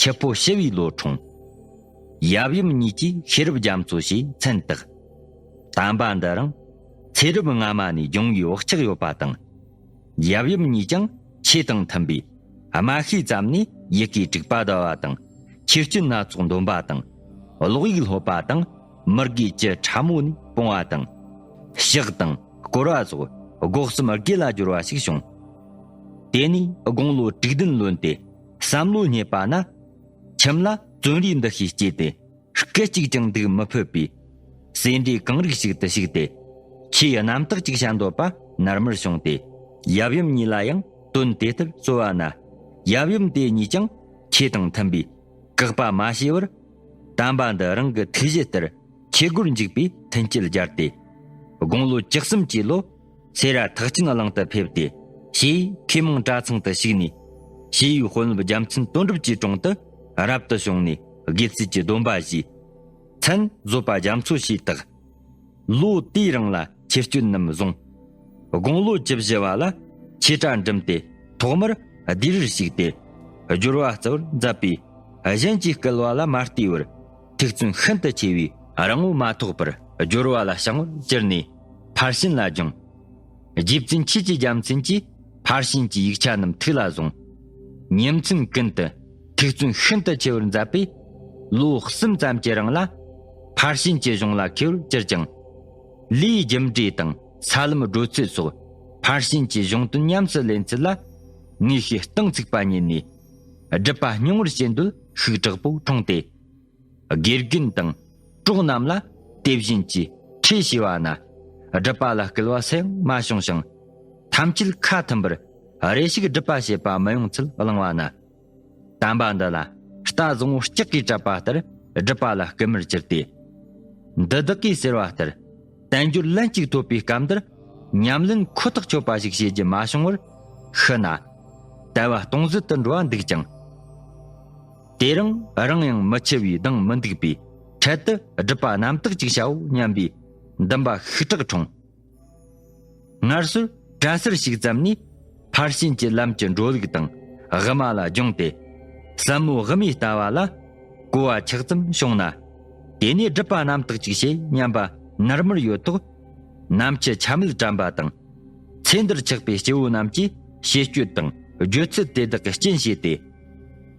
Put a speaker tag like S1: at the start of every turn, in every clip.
S1: ཁྱི་ཕོ་ཞི་བའི་ལོ་འཁྲུངས། ཡབ་ཡུམ་གཉིས་ཀྱིས་ཤེས་རབ་རྒྱ་མཚོ་ཞེས་མཚན་བཏགས། དམ་པ་འདི་རང་ཚེ་རབས་སྔ་མ་ནས་འབྱུང་བའི་བག་ཆགས་ཡོད་པ་དང། ཡབ་ཡུམ་གཉིས་ཀྱང་ཆོས་དང་མཐུན་པས་དམའ་ཤོས་ཙམ་ནས་ཡི་གེ་དྲུག་པ་བཟླ་བ་དང་ཆོས་སྤྱོད་སྣ་ཚོགས་འདོན་པ་དང། ཀློག་ཡིག་སློབ་པ་དང་མི་དགེ་བཅུ་ཕྲ་མོ་ནས་སྤོང་བ་དང། གཤེགས་དང་བསྐོར་བ་སོགས་སྒོ་གསུམ་དགེ་ལ་སྦྱོར་བ་ཞིག་བྱུང། དེ་ནས་དགུང་ལོ་དྲུག་བདུན་ལོན་ཏེ། བསམ་བློ་རྙེད་པ་ན། ཁྱིམ་ལ་བརྩོན་རིག་འདུ་ཤེས་སྐྱེས་ཏེ། སྐད་ཅིག་ཀྱང་སྡུག་མི་ཕོད་པའི། སེ་འབྲས་གང་རིགས་ཤིག་ཏུ་ཞུགས་ཏེ། ཆུའི་རྣམ་དག་ཅིག་བྱ་འདོད་པ་ནར་མར་བྱུང་སྟེ། ཡབ་ཡུམ་གཉིས་ལ་ཡང་དོན་དེ་ལྟར་རྩོལ་བ་ན། ཡབ་ཡུམ་དེ་གཉིས་ཀྱང་ཁྱེད་དང་མཐུན་པའི། བཀག་པ་མ་བྱས་པར། དམ་པ་འདི་རང་གི་ཐུགས་བཞེད་ལྟར། ཁྱེད་སྒོར་འཇུག་པའི་མཐུན་རྐྱེན་སྦྱར་ཏེ། དགུང་ལོ་བཅུ་གསུམ་གྱི་ལོ། སེ་ར་ཐག་ཆིན་གླིང་དུ་ཕེབས་ཏེ། ཞེས་མཁས་མང་གྲྭ་ཚང་དུ་ཞུགས་ནས། ཞེས་ཡུལ་དཔོན་སློབ་རྒྱ་མཚན་དོན་གྲུབ་ཀྱི་དྲུང་དུ་རབ་ཏུ་བྱུང་ནས་དགེ་ཚུལ་གྱི་སྡོམ་པ་བཞེས། མཚན་བཟོད་པ་རྒྱ་མཚོ་ཞེས་བཏགས། ལོ་དེའི་རིང་ལ་ཆེ་སྐྱོན་རྣམས་བཟུང། དགུང་ལོ་བཅུ་བཞི་བ་ལ་ཆོས་གྲྭ་འགྲིམས་ཏེ་ཐོག་མར་སྡེ་རིར་ཞུགས་ཏེ། སྦྱོར་བ་རྩ་བར་མཛད་པས་གཞན་གྱིས་སྐལ་བ་ལ་མ་ལྟོས་པར་ཐུགས་བརྩོན་ཤིན་ཏུ་ཆེ་བས། རང་ངོ་མ་ཐོགས་པར་སྦྱོར་བ་ལ་བྱང་བར་གྱུར་ནས། ཕར་ཕྱིན་ལ་སྦྱང། རྗེ་བཙུན་ཆོས་ཀྱི་རྒྱལ་མཚན་གྱིས་ཕར་ཕྱིན་གྱི་ཡིག་ཆ་རྣམས་ཐུགས་ལ་བཟུང། ཉིན་མཚན་ཀུན་ཏུ་ཐུགས་བརྩོན་ཤིན་ཏུ་ཆེ་བར་མཛད་པས། ལོ་གསུམ་ཙམ་གྱི་རིང་ལ། ཕར་ཕྱིན་གྱི་གཞུང་ལ་མཁས་པར་གྱུར་ཅིང། ལུས་རྒྱུ་འབྲས་དང་ས་ལམ་བགྲོད་ཚུལ་སོགས་ཕར་ཕྱིན་གྱི་གཞུང་དོན་ཉམས་སུ་ལེན་ཚུལ་ལ། དངོས་ཤེས་སྟོང་ཚིགས་པ་ཉིད་ནས། སྒྲུབ་པ་རྙིང་བར་བྱེད་འདོད་ཤུགས་དྲག་པོ་འཁྲུངས་ཏེ། དགེ་རྒན་དང་གྲོགས་རྣམས་ལ་དེ་བཞིན་གྱི་ཁྲིད་བྱས་པ་ན། སྒྲུབ་པ་ལ་སྐུལ་བ་སེམས་མ་བྱུང་ཞིང། ཐམས་ཅད་ཁ་མཐུན་པར་རེ་ཞིག་སྒྲུབ་པ་བྱེད་པ་མི་ཡོང་ཚུལ་བླངས་པ་ན། དམ་པ་འདི་ལ་རྟ་བཟང་བོ་ལྕགས་ཀྱིས་བྲབས་པ་ལྟར་སྒྲུབ་པ་ལ་སྐུལ་མར་གྱུར་ཏེ། འདི་བདག་གིས་ཟེར་བ་ལྟར་བསྟན་འགྱུར་ལན་གཅིག་ཐོབ་པའི་སྐབས་འདིར་ཉམས་ལེན་ཁོ་ཐག་ཆོད་པ་ཞིག་བྱེད་རྒྱུ་མ་བྱུང་བར་ཤི་ན། དལ་བ་སྟོང་ཟད་དུ་འགྲོ་བ་འདུག་ཅིང། དེ་རིང་རང་ཡང་མི་འཆི་བའི་སྡང་མི་འདུག་པས་འཕྲལ་དུ་སྒྲུབ་པ་རྣམ་དག་ཅིག་བྱའོ་སྙམ་པའི་འདུན་པ་ཤུགས་དྲག་འཁྲུངས། སྔར་སྲོལ་གྲྭ་ཟུར་ཞིག་བརྩམས་ནས་ཕར་ཕྱིན་གྱི་ལམ་གྱི་འགྲོ་ལུགས་དང་དབུ་མ་ལ་སྦྱོང་སྟེ། ཟབ་མོའི་དབུ་མའི་ལྟ་བ་ལ་གོ་བ་ཆགས་ཙམ་བྱུང་ན། དེ་ནས་སྒྲུབ་པ་རྣམ་དག་ཅིག་བྱེད་སྙམ་པ་ནར་མར་ཡོད་དོ། ནམ་འཆི་ཆ་མེད་དྲན་པ་དང། ཚེ་འདིར་ཆགས་པའི་སྐྱེ་བོ་རྣམས་ཀྱིས་བྱེད་སྤྱོད་དང་སྦྱོད་ཚུལ་དེ་དག་གི་རྐྱེན་བྱས་ཏེ།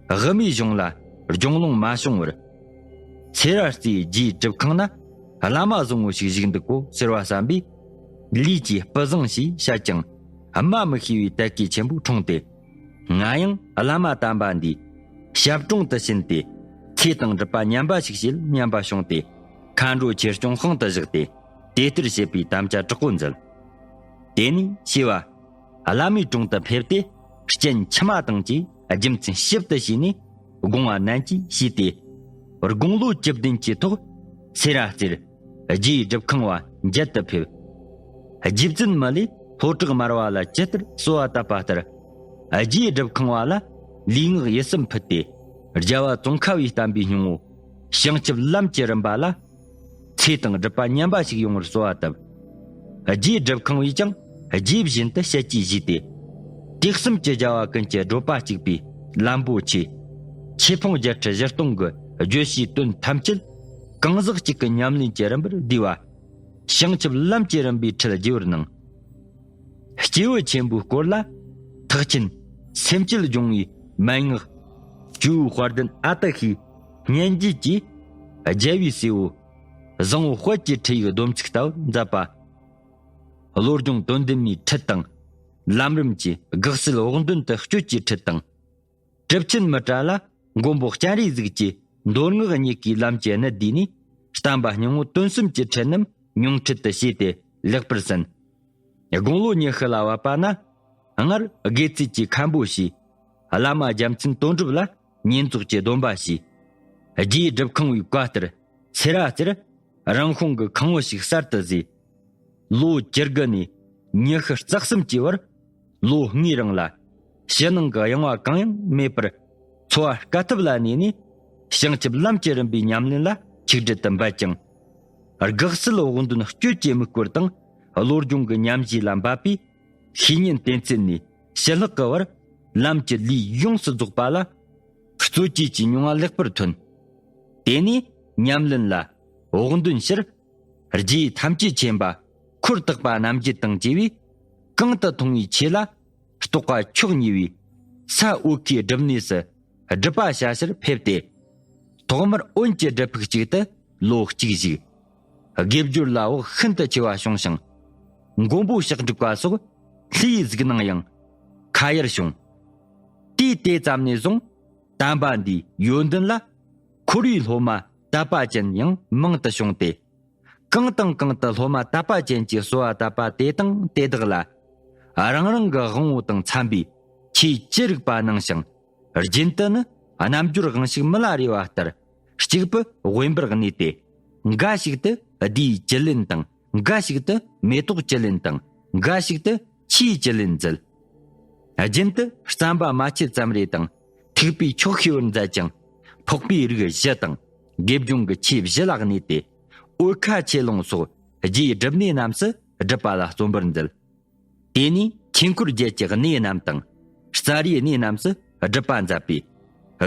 S1: དབུ་མའི་གཞུང་ལ་རྒྱུང་ལོང་མ་བྱུང་བར། ཚེ་ར་རྩེའི་རྒྱའི་སྒྲུབ་ཁང་ན་བླ་མ་བཟང་བོ་ཞིག་བཞུགས་འདུག་གོ་ཟེར་བ་བསམ་པས། ལུས་ཀྱི་སྤུ་བཟང་ཞེས་བཤད་ཀྱང་སྨྲ་མི་ཤེས་པའི་དད་གུས་ཆེན་པོས་འཁྲུངས་ཏེ། ང་ཡང་བླ་མ་དམ་པ་འདིའི་ཞབས་དྲུང་དུ་ཕྱིན་ཏེ། ཚེ་དང་སྒྲུབ་པ་ཉམས་པ་ཞིག་བྱེད་སྙམ་པ་བྱུང་སྟེ། མཁའ་འགྲོའི་ཆེད་སྐྱོང་ཤིང་དུ་བཞག་སྟེ། དེ་ལྟར་བྱེད་པའི་དམ་བཅའ་དྲག་པོ་མཛད། དེ་ནས་ཤེས་པ། བླ་མའི་དྲུང་དུ་ཕེབས་ཏེ་སྤྱན་ཕྱི་མ་དང་བཅས་རྒྱུ་མཚན་ཞིབ་ཏུ་བྱས་ནས་དགོངས་བ་ནན་གྱིས་ཞུས་ཏེ། དགུང་ལོ་བཅུ་བདུན་གྱི་ཐོག་ཚེ་རང་རྩེར་རྒྱའི་སྒྲུབ་ཁང་བ་འཇལ་དུ་ཕེབས། རྗེ་བཙུན་མི་ལས་ལྷོ་བྲག་དམར་བ་ལ་ཇི་ལྟར་གསོལ་བ་བཏབ་པ་ལྟར་རྒྱའི་སྒྲུབ་ཁང་བ་ལ་ལུས་ངག་ཡིད་གསུམ་ཕུལ་ཏེ་རྒྱལ་བ་ཙོང་ཁ་བའི་བསྟན་པའི་སྙིང་བོ་བྱང་ཆུབ་ལམ་གྱི་རིམ་པ་ལ་ཚེ་དང་སྒྲུབ་པ་མཉམ་པ་ཞིག་ཡོང་བར་གསོལ་བ་བཏབ། རྗེས་སྒྲུབ་ཁང་བས་ཀྱང་རྗེས་བཞིན་དུ་བཤད་ཀྱིས་བཞུས་ཏེ། དུས་གསུམ་གྱི་རྒྱལ་བ་ཀུན་གྱི་བགྲོད་པ་གཅིག་པའི་ལམ་པོ་ཆེ། ཆོས་ཕུང་བརྒྱད་ཁྲི་བཞི་སྟོང་གི་བརྗོད་བྱའི་དོན་ཐམས་ཅད། གང་ཟག་གཅིག་གི་ཉམས་ལེན་གྱི་རིམ་པར་བསྡུས་པ། བྱང་ཆུབ་ལམ་གྱི་རིམ་པའི་ཁྲིད་རྒྱས་པར་གནང། སྐྱེས་བུ་ཆེན་པོའི་སྐོར་ལ། ཐེག་ཆེན་སེམས་བསྐྱེད་སྦྱོང་བའི་མན་ངག། སྤྲུལ་བའི་དཔལ་ལྡན་ཨ་ཏི་ཤས། སྙན་རྒྱུད་ཀྱིས། རྒྱལ་བའི་སྲས་པོ། བཟང་བོ་དཔལ་གྱི་ཁྲིད་ཡིག་སྡོམ་ཚིག་ལྟ་བུ་མཛད་པ། བློ་སྦྱོང་དོན་ལྡན་མའི་ཁྲིད་དང། ལམ་རིམ་གྱི་དགག་སེལ་བོགས་འདོན་དུ་སྤྱོད་ཀྱི་ཁྲིད་དང། གྲུབ་ཆེན་མི་ཏྲ་ལ་མགོན་པོ་སྤྱན་རས་གཟིགས་ཀྱི་མདོ་སྔགས་གཉིས་ཀའི་ལམ་གྱི་གནད་བསྡུས་ནས་བསྟན་པ་སྙིང་བོ་དོན་གསུམ་གྱི་ཁྲིད་རྣམས་མྱོང་ཁྲིད་དུ་བྱས་ཏེ་ལེགས་པར་ཟིན། དགུང་ལོ་ཉི་ཤུ་ལ་བབ་པ་ན། སྔར་དགེ་ཚུལ་གྱི་མཁན་པོ་ཞིག། བླ་མ་རྒྱལ་མཚན་དོན་གྲུབ་ལ། བསྙེན་རྫོགས་ཀྱི་སྡོམ་པ་བྱས། རྒྱས་བསྒྲུབ་ཁང་བའི་བཀའ་ལྟར་ཚེ་ར་རྩེར་རང་ཤོང་གི་ཁང་བུ་ཞིག་གསར་དུ་བཟོས། ལོ་བཅུ་དགུ་ནས་ཉི་ཤུ་རྩ་གསུམ་གྱི་བར་ལོ་ལྔའི་རིང་ལ་ཕྱི་ནང་གི་གཡེང་བ་གང་ཡང་མེད་པར་འཚོ་བ་དཀའ་ཐུབ་ལ་གནས་ནས་བྱང་ཆུབ་ལམ་གྱི་རིམ་པའི་ཉམས་ལེན་ལ་ཆིག་སྒྲིལ་དུ་འབད་ཅིང། དགག་བསལ་དབང་དོན་སྤྱོད་ཀྱི་དམིགས་སྐོར་དང་བློ་སྦྱོང་གི་ཉམས་བཞེས་ལ་འབད་པས་ཤེས་ཉོན་གཏན་ཚིགས་ནས། ཞི་ལྷག་གི་བར་ལམ་གྱི་ལུས་ཡོངས་སུ་རྫོགས་པ་ལ། གཙོ་བཅོས་ཀྱི་མྱོང་བ་ལེགས་པར་ཐོན། དེ་ནས་ཉམས་ལེན་ལ། བོགས་འདོན་ཕྱིར། རྗེས་ཐམས་ཅད་མཁྱེན་པ། འཁོར་བརྟག་པ་རྣམ་བརྒྱད་དང་བཅས་པའི། གང་དུ་མཐོང་བའི་ཆོས་ལ། རྟོག་པ་མཆོག་ཉེ་བའི། ས་འོག་གི་སྒྲུབ་གནས་སུ། སྒྲུབ་པ་བྱ་ཕྱིར་ཕེབས་ཏེ། ཐོག་མར་དབོན་གྱི་སྒྲུབ་ཕུག་ཅིག་ཏུ་ལོ་གཅིག་བཞུགས། དགེ་སྦྱོར་ལ་བག་ཤིན་ཏུ་ཆེ་བ་བྱུང་ཞིང། མགོན་པོ་ཞག་འགྲིག་པ་སོགས་ལྷའི་གཟིགས་སྣང་ཡང་ཁ་ཡར་བྱུང། དུས་དེ་ཙམ་ནས་བཟུང་དམ་པ་འདིའི་ཡོན་ཏན་ལ་འཁོར་བའི་སློབ་མ་དད་པ་ཅན་ཡང་མང་དུ་བྱུང་སྟེ། གང་དང་གང་དུ་སློབ་མ་དད་པ་ཅན་གྱིས་གསོལ་བ་བཏབ་པ་དེ་དང་དེ་དག་ལ་རང་རང་གི་དབང་བོ་དང་འཚམ་པའི་ཆོས་ཅི་རིགས་པ་གནང་ཞིང། རྒྱུན་དུ་ནི་རྣམ་འབྱོར་དབང་ཤུགས་མི་ལ་རེ་བ་ལྟར་གཅིག་པུ་དབེན་པར་གནས་ཏེ། འགའ་ཞིག་ཏུ་བསྡུས་བཅུད་ལེན་དང་འགའ་ཞིག་ཏུ་མེ་ཏོག་བཅུད་ལེན་དང་འགའ་ཞིག་ཏུ་ཆུའི་བཅུད་ལེན་མཛད། རྒྱུན་དུ་རྩམ་པ་མ་ཆུ་ཙམ་རེ་དང་ཐིགས་པའི་ཕྱོགས་ཤིག་བར་མཛད་ཅིང། ཕོག་པའི་རིགས་བཞི་དང་དགེ་སྦྱོང་གི་ཆོས་བཞི་ལ་གནས་ཏེ། འོལ་ཁ་ཆེ་ལོང་སོགས་རྒྱའི་སྒྲུབ་གནས་རྣམས་སུ་སྒྲུབ་པ་ལ་བརྩོན་པར་མཛད། དེ་ནས་ཆོས་འཁོར་བརྒྱད་ཀྱི་གནས་རྣམས་དང། རྩ་རིའི་གནས་རྣམས་སུ་སྒྲུབ་པ་མཛད་པས།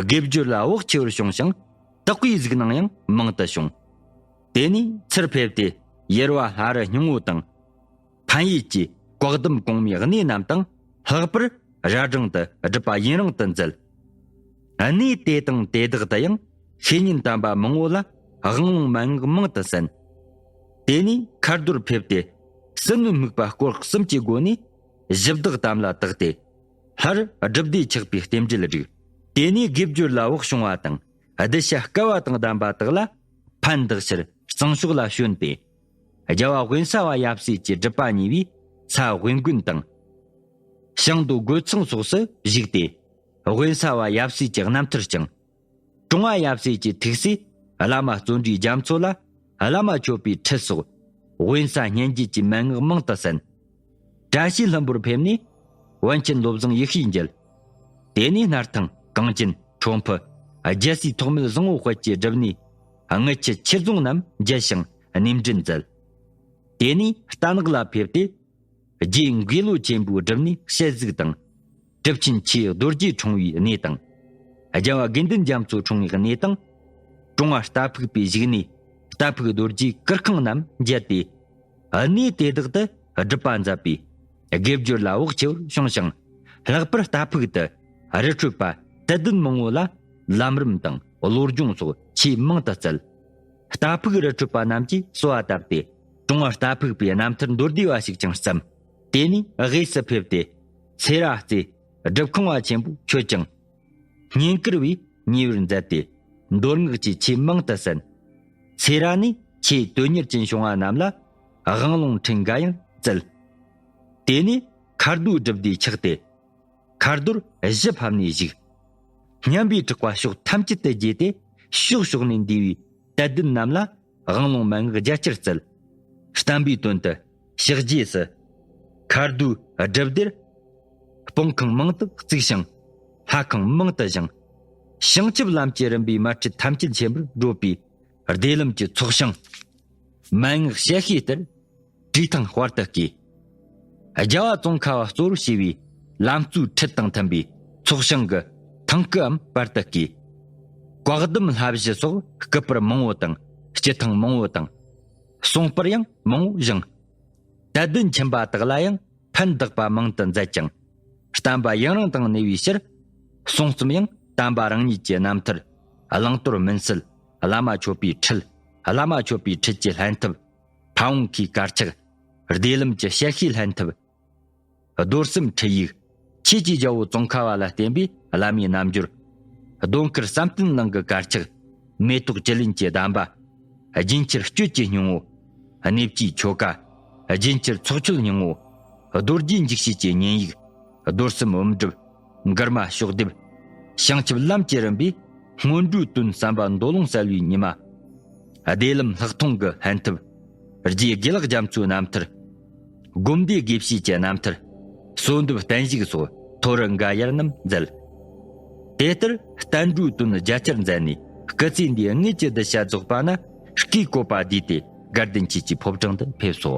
S1: དགེ་བསྒྱུར་ལ་བག་ཆེ་བར་བྱུང་ཞིང། དག་པའི་གཟུགས་སྣང་ཡང་མང་དུ་བྱུང། དེ་ནས་ཚུར་ཕེབས་ཏེ་ཡེར་བ་ལྷ་རི་སྙིང་བོ་དང། ཕན་ཡེ་བཅས་བཀག་སྡོམ་གོང་མའི་གནས་རྣམས་དང་ལྷག་པར་ར་སྒྲེང་དུ་སྒྲུབ་པ་ཡུན་རིང་དུ་མཛད། གནས་དེ་དང་དེ་དག་ཏུ་ཡང་ཤེས་ཡོན་དམ་པ་མང་བོ་ལ་དབང་ལུང་མན་ངག་མང་དུ་གསན། དེ་ནས་མཁའ་འགྲོར་ཕེབས་ཏེ། སྲིན་མོའི་དམིགས་པ་སྐོར་གསུམ་གྱི་སྒོ་ནས། གཞི་བདག་དམ་ལ་བཏགས་ཏེ། ལྷར་སྒྲུབ་སྡེ་ཆགས་པའི་རྟེན་འབྲེལ་བསྒྲིག། དེ་ནས་དགེ་བསྒྱུར་ལ་འོག་བྱུང་བ་དང། གདུལ་བྱ་སྐལ་བ་དང་ལྡན་པ་དག་ལ། ཕན་བདག་ཕྱིར་གཙང་ཕྱོགས་ལ་བྱོན་པས། རྒྱལ་བ་དབེན་ས་བ་ཡབ་སྲས་ཀྱི་སྒྲུབ་པ་ཉེ་བའི་ས་དབེན་དགོན་དང། ཞང་དུ་རྒོད་ཚང་སོགས་སུ་བཞུགས་ཏེ། དབེན་ས་བ་ཡབ་སྲས་ཀྱི་རྣམ་ཐར་བསྐྱངས། ཀྲུང་ཧྭ་ཡབ་སྲས་ཀྱི་ཐུགས་སྲས་བླ་མ་བརྩོན་འགྲུས་རྒྱ་མཚོ་ལ་བླ་མ་མཆོད་པའི་ཁྲི་སོགས་དབེན་ས་སྙན་བརྒྱུད་ཀྱི་མན་ངག་མང་དུ་གསན། བཀྲ་ཤིས་ལྷུན་པོར་ཕེབས་ནས་བོན་ཆེན་སློབ་བཟང་ཡེ་ཤེས་མཇལ། དེ་ནས་སྣར་ཐང་གངས་ཅན་ཁྲོ་ཕུ་རྒྱལ་སྲས་ཐོགས་མེད་བཟང་བོ་དཔལ་གྱི་སྒྲུབ་གནས་དངུལ་ཆུ་ཆོས་རྫོང་རྣམས་མཇལ་ཞིང་གནས་འབྲེལ་མཛད། དེ་ནས་རྟ་ནག་ལ་ཕེབས་ཏེ། རྗེའི་འགོས་ལོ་ཆེན་པོའི་སྒྲུབ་གནས་ཞལ་གཟིགས་དང། གྲུབ་ཆེན་ཆོས་རྡོ་རྗེ་འཁྲུངས་པའི་གནས་དང། རྒྱལ་བ་དགེ་འདུན་རྒྱ་མཚོ་འཁྲུངས་པའི་གནས་དང། ཀྲུང་བ་རྟ་ཕུག་པའི་བཞུགས་གནས་རྟ་ཕུག་རྡོ་རྗེ་གུར་ཁང་རྣམས་མཇལ་ཏེ། གནས་དེ་དག་ཏུ་སྒྲུབ་པ་མཛད་པས་དགེ་སྦྱོར་ལ་བག་ཆེ་བར་བྱུང་ཞིང། ལྷག་པར་རྟ་ཕུག་ཏུ་རི་ཁྲོད་པ་དད་ལྡན་མང་བོ་ལ་ལམ་རིམ་དང་བློ་སྦྱོང་སོགས་ཆེས་མང་དུ་སྩལ། རྟ་ཕུག་རི་ཁྲོད་པ་རྣམས་ཀྱིས་གསོལ་བ་བཏབ་སྟེ་ཀྲུང་བ་རྟ་ཕུག་པའི་རྣམ་ཐར་མདོར་བསྡུས་པ་ཞིག་ཀྱང་བརྩམས། དེ་ནས་གཡས་སུ་ཕེབས་ཏེ། ཚེ་ར་རྩེ། སྒྲུབ་ཁང་བ་ཆེན་པོ་མཆོད་ཅིང། བསྙེན་བཀུར་བས་ཉེ་བར་མཛད་དེ། མདོར་བསྔགས་ཀྱི་ཆོས་མང་དུ་གསན། ཚེ་ར་ནས་ཆེས་དོན་གཉེར་ཅན་བྱུང་བ་རྣམས་ལ། དབང་ལུང་ཕྲིན་འགའ་ཡང་བསྩལ། དེ་ནས་མཁར་རྡོའི་སྒྲུབ་སྡེ་ཆགས་ཏེ། མཁར་རྡོར་གཞི་ཕབ་ནས་བཞུགས། སྙམ་པའི་དྲག་པ་ཕྱོགས་ཐམས་ཅད་དུ་རྒྱས་ཏེ། ཕྱོགས་ཕྱོགས་ནས་འདུས་པའི་དད་ལྡན་རྣམས་ལ། དབང་ལུང་མན་ངག་རྒྱ་ཆེར་བསྩལ། བསྟན་པའི་དོན་དུ། ཕྱག་རྗེས་སུ། མཁའ་ཟླུམ་སྒྲིབ་སྡེར། སྤང་ཁང་མང་དུ་བརྩིགས་ཤིང། ལྷ་ཁང་མང་དུ་བཞེངས། བྱང་ཆུབ་ལམ་གྱི་རིམ་པའི་དམར་ཁྲིད་ཐམས་ཅད་མཁྱེན་པར་སྒྲོགས་པའི། བདེ་ལམ་གྱི་ཚོགས་ཞིང། མན་ངག་བཤད་ཤེས་སྟེར། བྲིས་ཐང་དཔར་དུ་བཀས། རྒྱལ་བ་ཙོང་ཁ་བ་གཙོ་རུ་བྱས་པའི། ལམ་གཙོའི་ཁྲིད་དང་མཐུན་པའི་ཚོགས་ཞིང་གི། ཐང་སྐུའམ་དཔར་དུ་བཀས། བཀག་སྡོམ་ལྷ་བཞི་སོགས་སྐུ་པར་མང་བོ་དང། སྤྱི་ཐང་མང་བོ་དང། གསུངས་པར་ཡང་མང་བོ་བཞེངས། དད་ལྡན་ཁྱིམ་པ་དག་ལ་ཡང་ཕན་བདག་པ་མང་དུ་མཛད་ཅིང། བསྟན་པ་ཡུན་རིང་དང་གནས་པའི་ཕྱིར། གསུང་རྩོམ་ཡང་བསྟན་པ་རང་ཉིད་ཀྱི་རྣམ་ཐར། བླང་དོར་མུན་སེལ། བླ་མ་མཆོད་པའི་ཁྲིད། བླ་མ་མཆོད་པའི་ཁྲིད་ཀྱི་ལྷན་ཐབས། ཕ་བོང་ཁའི་དཀར་ཆག། བདེ་ལམ་གྱི་གཤེགས་ཤིང་ལྷན་ཐབས། རྡོར་སེམས་འཕྲུལ་ཡིག། ཁྱེད་ཀྱིས་རྒྱལ་པོ་ཙོང་ཁ་བ་ལ་བསྟན་པའི་བླ་མའི་རྣམ་འགྱུར། གདོན་དཀར་བསམ་གཏན་གླིང་གི་དཀར་ཆག། མེ་ཏོག་བཅུད་ལེན་གྱི་གདམས་པ། རྒྱུན་ཁྱེར་སྤྱོད་ཀྱི་སྙིང་བོ། གནས་བཅུའི་ཆོ་ག། རྒྱུན་ཁྱེར་ཚོགས་མཆོད་སྙིང་བོ། རྡོ་རྗེ་འཇིགས་བྱེད་ཀྱི་བསྙེན་ཡིག། རྡོར་སེམས་བུམ་སྒྲུབ། མགུར་མ་ཤོག་ལྡེབ། བྱང་ཆུབ་ལམ་གྱི་རིམ་པའི། སྔོན་འགྲོའི་དོན་བསམ་པ་མདོ་ལུང་གསལ་བའི་ཉི་མ། བདེ་ལམ་ལྷག་མཐོང་གི་ལྷན་ཐབས། རྗེས་དགེ་ལག་རྒྱ་མཚོའི་རྣམ་ཐར། བསྒོམ་བཟླས་དགེ་བཤེས་ཀྱི་རྣམ་ཐར། གསོལ་འདེབས་བསྟན་བཤིག་སོགས་མཐོ་རུ་འགའ་ཡར་རྣམས་མཛད། དེ་ལྟར་བསྟན་འགྲོའི་དོན་རྒྱ་ཆེར་མཛད་ནས་སྐུ་ཚེ་འདི་ལྔས་ཀྱི་བསྡུ་བྱ་རྫོགས་པ་ན་ཀྲུའུ་ཀའི་བཀོད་པ་བསྡུས་ཏེ་སྒར་བདེ་མཆེད་ཀྱི་ཕོབ་གྲངས་དུ་ཕེབས་སོ།